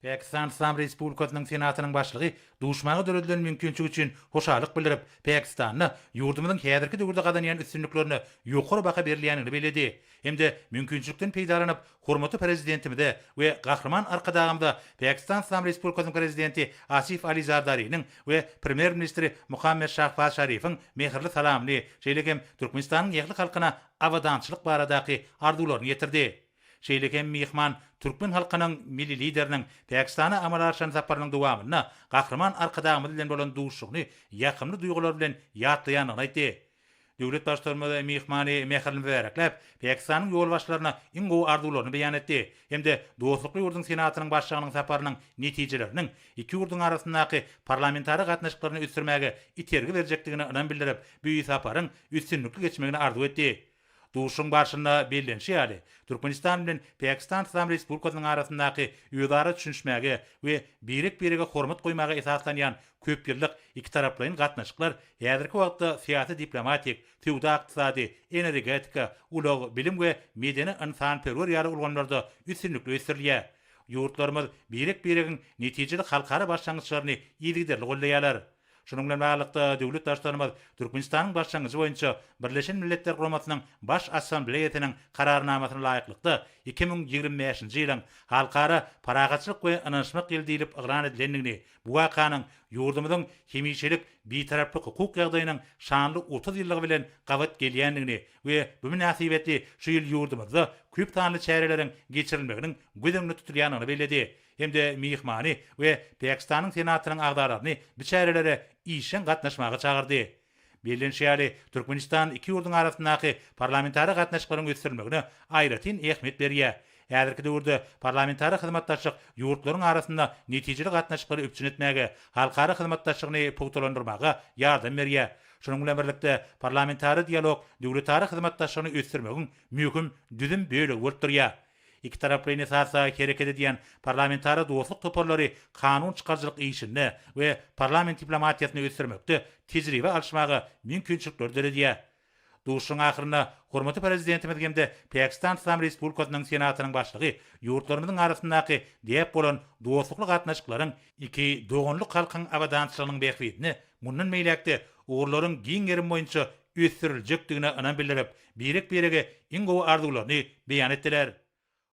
Pakistan Yslam Respublikasynyň Senatynyň Başlygy duşmaga döredilen mümkinçilik üçin hoşallyk bildirip, Pakistanda ýurdumyzyň häzirki döwürde gazanýan üstünliklerine ýokary baha berilýändigini belledi hem-de mümkinçilikden peýdalanyp, hormatly Prezidentimize we Gahryman Arkadagymyza Pakistan Yslam Respublikasynyň Prezidenti Asif Ali Zardariniň we Premýer-ministri Muhammad Şahbaz Şarifiň mähirli salamyny, şeýle hem Türkmenistanyň ähli halkyna abadançylyk baradaky arzuwlaryny ýetirdi. Şeýle hem myhman türkmen halkynyň Milli Lideriniň Pakistana amala aşyran saparynyň dowamynda Gahryman Arkadagymyz bilen bolan duşuşygyny ýakymly duýgular bilen ýatlaýandygyny aýtdy. Döwlet Baştutanymyz myhmany mähirli mübärekläp, Pakistanyň ýolbaşçylaryna iň gowy arzuwlaryny beýan etdi hem-de dostlukly ýurduň Senatynyň başlygynyň saparynyň netijeleriniň iki ýurduň arasyndaky parlamentara gatnaşyklaryny ösdürmäge itergi berjekdigine ynam bildirip, bu saparyň üstünlikli geçmegini arzuw etdi. Duşuşygyň barşynda bellenişi ýaly, Türkmenistan bilen Pakistan Yslam Respublikasynyň arasyndaky özara düşünişmäge we birek-birege hormat goýmaga esaslanýan köpýyllyk ikitaraplaýyn gatnaşyklar häzirki wagtda syýasy-diplomatik, söwda-ykdysady, energetika, ulag, bilim we medeni-ynsanperwer ýaly ulgamlarda üstünlikli ösdürilýär. Ýurtlarymyz birek-biregiň netijeli halkara başlangyçlaryny yzygiderli goldaýarlar. Şunuň bilen baglylykda, döwlet Baştutanymyz Türkmenistanyň başlangyjy boýunça Birleşen Milletler Guramasynyň Baş Assambleýasynyň Kararnamasyna laýyklykda, iki müň ýigrimi bäşinji ýylyň Halkara parahatçylyk we ynanyşmak ýyly diýlip yglan edilendigini, bu wakanyň ýurdumyzyň hemişelik Bitaraplyk hukuk ýagdaýynyň şanly otuz ýyllygy bilen gabat gelýändigini we bu mynasybetli şu ýyl ýurdumyzda köp sanly çäreleriň geçirilmeginiň göz öňünde tutulýandygyny belledi. hem-de myhmany we Pakistanyň Senatynyň agzalaryny bu çärelere işjeň gatnaşmaga çagyrdy. Bellenişi ýaly, Türkmenistan iki ýurduň arasyndaky parlamentara gatnaşyklaryň ösdürilmegine aýratyn ähmiýet berýär. Häzirki döwürde parlamentara hyzmatdaşlyk ýurtlaryň arasynda netijeli gatnaşyklary üpjün etmäge, halkara hyzmatdaşlygyny pugtalandyrmaga ýardam berýär. Şunuň bilen birlikde, parlamentara dialog döwletara hyzmatdaşlygyny ösdürmegiň möhüm düzüm bölegi bolup durýar. Ikitaraplaýyn esasda hereket edýän parlamentara dostluk toparlary kanun çykaryjylyk işinde we parlament diplomatiýasyny ösdürmekde tejribe alyşmaga mümkinçilikleri döredýär. Duşuşygyň ahyrynda hormatly Prezidentimiz hem-de Pakistan Yslam Respublikasynyň Senatynyň Başlygy ýurtlarymyzyň arasyndaky däp bolan dostlukly gatnaşyklaryň, iki doganlyk halkyň abadançylygynyň bähbidine mundan beýläk-de ugurlaryň giň gerim boýunça ösdüriljekdigine ynam bildirip, birek-birege iň gowy arzuwlaryny beýan etdiler.